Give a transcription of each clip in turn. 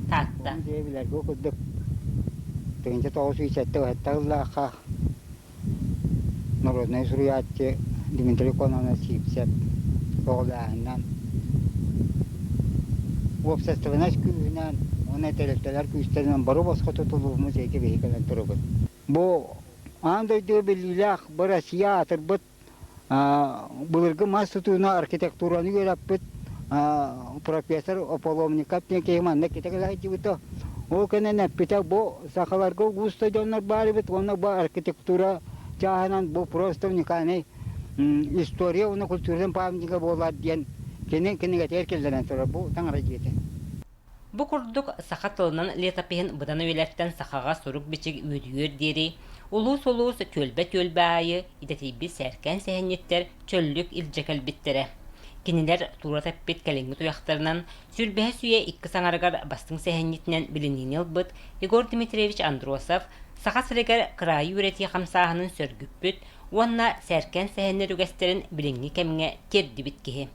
Таатта. Дьэ, билэргэ курдук тыһыынча тоҕус сүүс сэттэ-сэттэ ыллаахха народнай суруйааччы Дмитрий Кононачипцев көҕүлээһининэн уопсастыбаннас күүһүнэн уонна интеллектуалар күүстэринэн бары босхо тутулух музей кэбиһи кэлэн турабыт. Бу аан дойду биллиилээх, бу Россия аатырбыт Былыргы мас тутууна архитектураны үөраппыт профессор Ополовников диэн киһи маннык итэҕэлэһидьибито. Ол кэнэн эппитэ бу сахаларга ууста дьоннор баарыбыт уонна бу архитектура чааһынан бу просто уникальный история уонна культурным памятнига буолар диэн кини кинигэтигэр киллэрэн турар бу таҥара дьиэтэ. Бу курдук саха тылынан летопиһын быдан үйэлэртэн сахаҕа сурук-бичик үөдүйүөр диэри улуус-улуус, түөлбэ-түөлбэ аайы идэтийбит сээркээн сэһэнньиттэр чөллүк илдьэ кэлбиттэрэ. Кинилэр туурата эппит кэлиҥҥи туйахтарынан Сүрбэһис үйэ иккис аҥарыгар бастыҥ сэһэнньитинэн билиниини ылбыт Егор Дмитриевич Андросов Саха сиригэр кыраайы үөрэтии хамсааһынын сөргүппүт уонна сээркээн сэһэннэр үгэстэрин билиҥҥи кэмҥэ тиэрдибит киһи.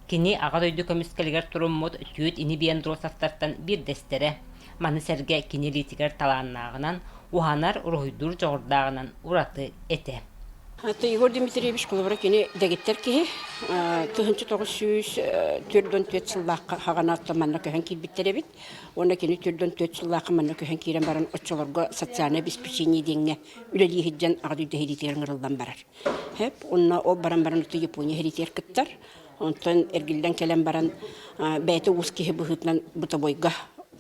Кини Аҕа дойду көмүскэлигэр туруммут Түөт ини-бии Андросовтартан биирдэстэрэ, маны сэргэ кини илиитигэр талааннааҕынан, уһанар-уруһуйдуур дьоҕурдааҕынан ураты этэ. Егор Дмитриевич холобура кини дэгиттэр киһи. Тыһыынча тоҕус сүүс төрт уон түөрт сыллаахха хаҕанаатта манна көһөн киирбиттэр эбит. Уонна кини төрт уон түөрт сыллаахха манна көһөн киирэн баран оччолорго социальнай обеспечение диэҥҥэ үлэлии сылдьан Аҕа дойду иһитигэр ыҥырыллан барар. Хэп уонна ол баран баран ытты Япония хиритиэр кыттар. Онтон эргиллэн кэлэн баран бэйэтэ уус киһи быһыытынан бытовойга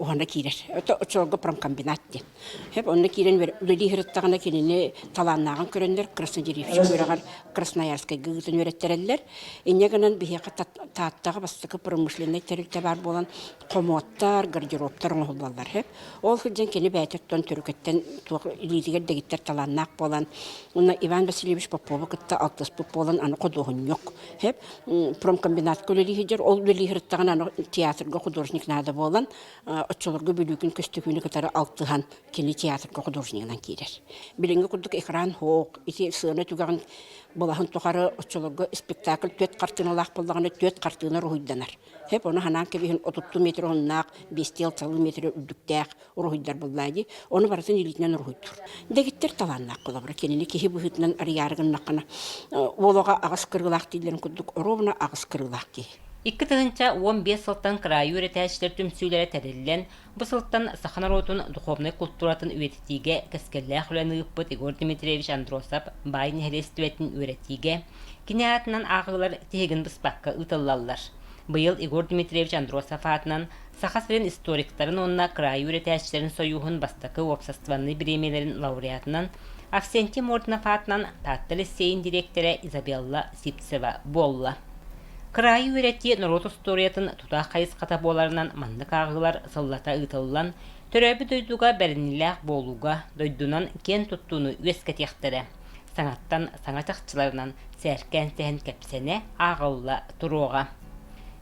уһана киирэр. Это оччолорго промкомбинат диэн. Хэп онно киирэн үлэлии сырыттаҕына кинини талааннааҕын көрөннөр краснодеревщик үөрэҕэр Красноярскайга ыытан үөрэттэрэллэр. Инньэ гынан биһиэхэ Тааттаҕа бастакы промышленнай тэрилтэ баар буолан хомуоттар, гардеробтар оҥоһуллаллар үһү. Ол сылдьан кини бэйэтэ оттон төрүкэттэн туох илиитигэр дэгиттэр талааннаах буолан, уонна Иван Васильевич Попову кытта алтыспыт буолан, аны ходуоһунньук. Хэп промкомбинатка үлэлии сылдьар. Ол үлэлии сырыттаҕына аны театрга художник наада буолан, оччолорго Бүлүүкүн көстүкүүнү кытары алтыһан кини театрга художнигынан киирэр. Билиҥҥи курдук экран хоох, ити сыана түгэҕин былаһын тухары оччолорго спектакль түөрт хартыыналаах буоллаҕына, түөрт хартыына уруһуйданар. Хэп ону ханаан кэбиһин отутту метр уһуннаах, биэстиэл салыы метрэ үрдүктээх уруһуйдар буллаа дии. Ону барытын илиитинэн уруһуйдуур. Дэгиттэр талааннаах былабыра. Кинини киһи быһыытынан арыйаары гыннаххына, уолаҕа аҕыс кырыылаах дииллэрин курдук, оруобуна аҕыс кырыылаах киһи. Икки тыһыынча уон биэс сылтан кыраайы үөрэтээччилэр түмсүүлэрэ тэриллэн, Бу сылтан саха норуотун духовнай култууратын үйэтитиигэ кэскиллээх үлэни ыыппыт Егор Дмитриевич Андросов баай нэһилиэстибэтин үөрэтиигэ кини аатынан ааҕыылар тиһигин быспакка ыытыллаллар. Быйыл Егор Дмитриевич Андросов аатынан Саха сирин историктарын уонна кыраайы үөрэтээччилэрин союһун бастакы уопсастыбаннай бириэмэлэрин лауреатынан Авсентий Морднов аатынан Таатта лиссиэйин дириэктэрэ Изабелла Сипцева буолла. Кыраайы үөрэттии норуот устуоруйатын тутаах хайысхата буоларынан маннык ааҕыылар сыллата ыытыллан, төрөөбүт дойдуга бэриниилээх буолууга дойдунан киэн туттууну үөскэтиэхтэрэ, саҥаттан саҥа чахчыларынан сээркээн-сэһэн кэпсэнэ ааҕылла туруоҕа.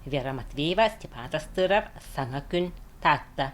Вера Матвеева, Степан Тастыров, Саҥа күн, Таатта